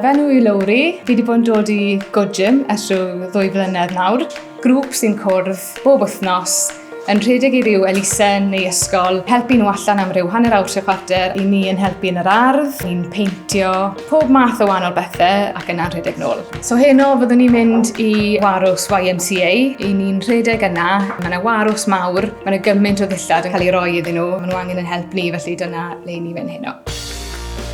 Fy enw yw Lowri, fi wedi bod yn dod i Good Gym ers rhyw ddwy flynedd nawr. Grŵp sy'n cwrdd bob wythnos yn rhedeg i ryw elusen neu ysgol, helpu nhw allan am ryw hanner awr trwy chwarter, i ni yn helpu yn yr ardd, ni'n peintio, pob math o wahanol bethau ac yna'n rhedeg nôl. So heno fyddwn ni'n mynd i warws YMCA, i ni'n rhedeg yna, mae yna warws mawr, mae yna gymaint o ddillad yn cael ei roi iddyn nhw, maen nhw angen yn help ni felly dyna le ni'n mynd heno.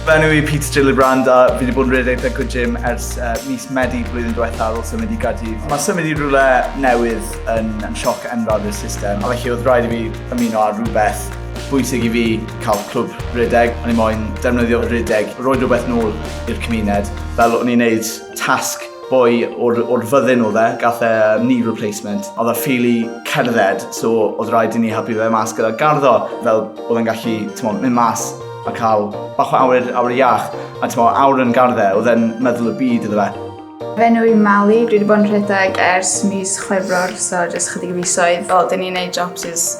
Fy enw i Peter Gillibrand a fi wedi bod yn rhedeg Thaco Gym ers uh, mis Medi blwyddyn diwetha ar ôl symud i Gaerdydd. Mae symud i rhywle newydd yn, yn sioc enfawr i'r system, a felly oedd rhaid i fi ymuno ar rhywbeth bwysig i fi cael clwb rhedeg. O'n i moyn defnyddio rhedeg, roed rhywbeth nôl i'r cymuned, fel o'n i'n neud tasg boi o'r, or fyddin o dde, gath e knee replacement. Oedd e ffili cerdded, so oedd rhaid i ni helpu fe mas gyda garddo, fel oedd e'n gallu, ti'n mynd mas a cael bach o awyr, awyr iach, a ti'n meddwl, awr yn gardde, oedd e'n meddwl y byd iddo fe. Fe nhw i Mali, dwi wedi bod yn rhedeg ers mis chwefror, so jyst chydig o fisoedd. O, dyn ni'n neud jobs is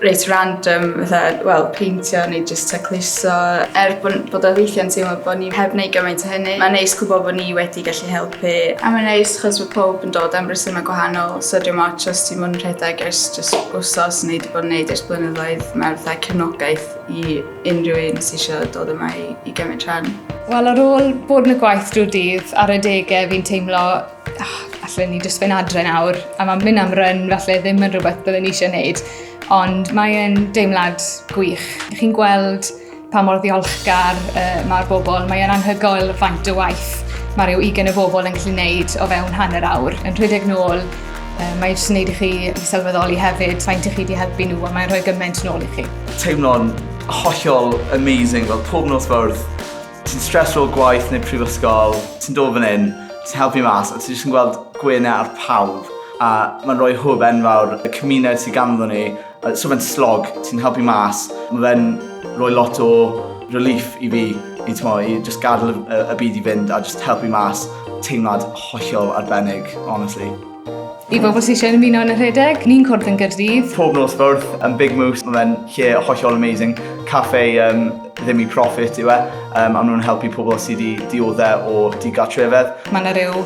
reit random, fatha, wel, peintio neu jyst tacluso. Er bod, bod o weithiau'n teimlo bod ni heb wneud gymaint o hynny, mae'n neis gwybod bod ni wedi gallu helpu. A mae'n neis chos mae pob yn dod am resymau gwahanol, so dwi'n moch os ti'n mynd yn rhedeg ers jyst wsos neu wedi bod yn neud ers blynyddoedd, mae'r fatha cefnogaeth i unrhyw un sy'n eisiau dod yma i, i gymryd rhan. Wel, ar ôl bod yn y gwaith drwy dydd ar y degau, fi'n teimlo oh, allan ni jyst fe'n adre nawr, a mae'n mynd am ryn, falle ddim yn rhywbeth byddwn ni eisiau gwneud, ond mae'n deimlad gwych. Chi'n gweld pa mor ddiolchgar uh, mae'r bobl, mae'n anhygoel faint o waith mae rhyw 20 o bobl yn gallu gwneud o fewn hanner awr, yn rhedeg nôl, uh, mae'n jyst yn gwneud i chi sylweddoli hefyd faint i chi wedi helpu nhw, a mae'n rhoi gymaint nôl i chi. Teimlo'n hollol amazing, fel pob nos Fawrth, ti'n streso o gwaith neu prifysgol, ti'n dod fan hyn, ti'n helpu mas a ti jyst yn gweld gwenu ar pawb a mae'n rhoi hwb enfawr y cymuned sydd ganddo ni, so fe'n slog, ti'n helpu mas, mae fe'n rhoi lot o relief i fi i, t'mo', i jyst gadael y byd i fynd a jyst helpu mas, teimlad hollol arbennig, honestly. I bobl sy'n eisiau ymuno yn y rhedeg, ni'n cwrdd yn gyrdydd. Pob nos ffordd, yn Big Moose, mae fe'n lle hollol amazing. Caffe um, ddim i profit yw e, um, a nhw'n helpu pobl sydd wedi dioddau o digartrefedd. Mae yna rhyw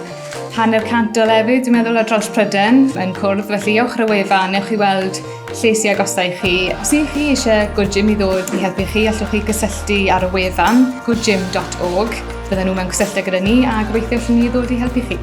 hanner cant o lefydd, dwi'n meddwl, o dros Pryden yn cwrdd, felly ewch ar y wefan, newch chi weld lle sy'n agosau i chi. Os ydych chi eisiau Good Gym i ddod i helpu chi, allwch chi gysylltu ar y wefan goodgym.org. Bydden nhw mewn cysylltu gyda ni a gobeithio allwn ni ddod i helpu chi.